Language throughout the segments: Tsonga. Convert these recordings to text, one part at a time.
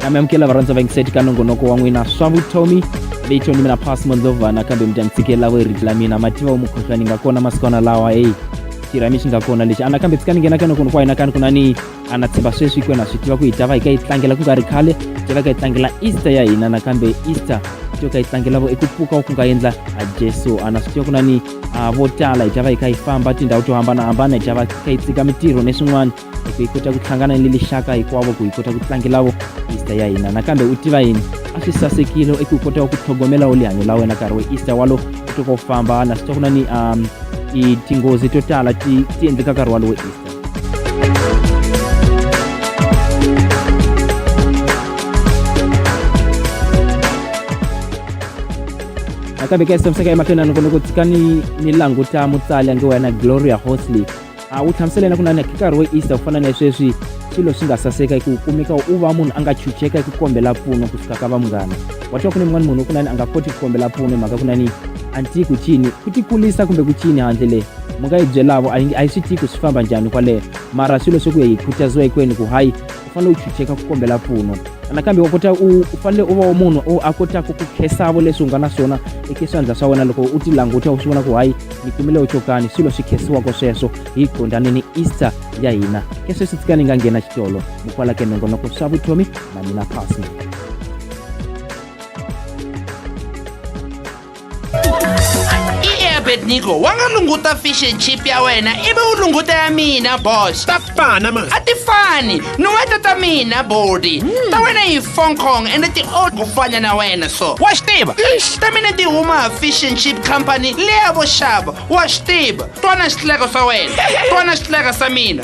mi amukela varhandza va yingiseti ka nongonoko wa n'wina swa vutomi leyi toni mina pass mondlovana kambe mi ta mi tshikelelavo hi rito la mina mativa wumukhuhlwani nga kona masikwana lawa heyi xirhami xi nga kona lexi anakambe tshika ni nghena ka nongonoko wa hina kani ku na ni a na tshemba sweswi ku na swi tiva ku hi ta va hi ka yi tlangela ku nga ri khale hi ta va ka yi tlangela easter ya hina nakambe easter to ka yi tlangelavo i ku pfuka ku nga endla a jesu a na swi tiva ku na ni a vo tala hi ta va hi ka yi famba tindhawu to hambanahambana hi ta va ka yi tsika mitirho ni swin'wana hi ku hi kota ku hlangana ni lixaka hinkwavo ku hi kota ku tlangelavo easter ya hina nakambe u tiva yini a swi sasekile i ku u kotaka ku tlhogomela u lihanyo la wena nkarhi we easter walo u toka u famba na swi tiva ku na ni um tinghozi to tala ti ti endleka nkarhi walowo easter nakambe ka xisomisa ka emahlweni a ni vone ku tshika ni ni languta mutsali ange wena gloria hosley a wu hlamusela yena ku nani nkarhi wo easter ku fana na sweswi swilo swi nga saseka hi ku kumeka u va munhu a nga chucheka hi ku kombela mpfuno kusuka ka va munghana wa twa ku ni mun'wana munhu ku nani a nga koti ku kombela mpfuno hi mhaka ku nani anti ku cini ku tikulisa kumbe ku cini handle leyi mi nga yi byelavo a yi a yi swi tiyi ku swi famba njhani kwaleyo mara swilo swi ku ya yi khutaziwa hikwenu ku hayi u fanele u chucheka ku kombela mpfuno nakambe u kota u u fanele u va wa munhu u a kotaka ku khesavo leswi u nga na swona eka swandla swa wena loko u ti languta u swi vona ku hayi ni kumile u chokani swilo swi khesiwaka sweswo hi gondani ni easter ya hina ke sweswi tsika ni nga nghena xitolo mukwala ke nongonoko swa vutomi na mina pasni abednigo wa nga lunguta fish and chip ya wena ivi u lunguta ya mina boss ta fana ma a ti fani nuweta ta mina bodi hmm. ta wena yi fong kong ende ti old ku fana na wena so wa swi tiva ta mina ti huma fish and chip company leya vo xava wa swi tiva twana xitleko swa wena twana xitleko sa mina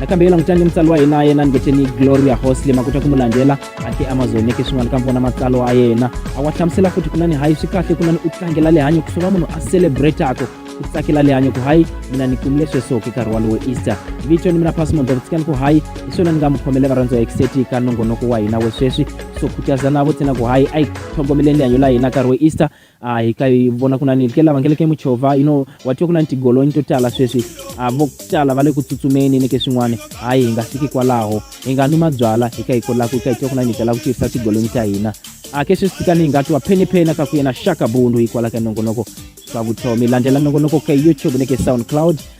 nakambe yela n'witlangi mutsari wa hina yena ni ngeteni gloria hosley makuta ku mu landzela a ti amazoneke swin'wana ka vona matsalwa a yena a wa hlamusela futhi ku nani hayi swi kahle ku nani u tlangela lihanyo ku sova munhu a celebrataka ku tsakela lihanyo ku hayi mina ni kumile sweswoki nkarhi walowo easter vito ni mina pasmond davutsikani ku hayi hi swona ni nga mu khomele varhandzi wa exeti ka nongonoko wa hina we sweswi so khutazana vo tsena ku hayi a hi tlhogomeleni lihanyo la hina nkarhi wo easter a hi ka hi vona ku na ni ke lava nge le ke muchova you know wa twa ku na ni tigolonyi to tala sweswi a vo tala va le ku tsutsumeni ni ke swin'wana hayi hi nga fiki kwalaho hi nga nwi mabyala hi ka hi kolaku hi ka hi twa ku na ni hi tala ku tirhisa tigolonyi ta hina a ke sweswi ka ni hi nga twa pheniphena ka ku yena shaka bundu hikwala ka nongonoko swa vutomi landzela nongonoko ka youtube ni ke soundcloud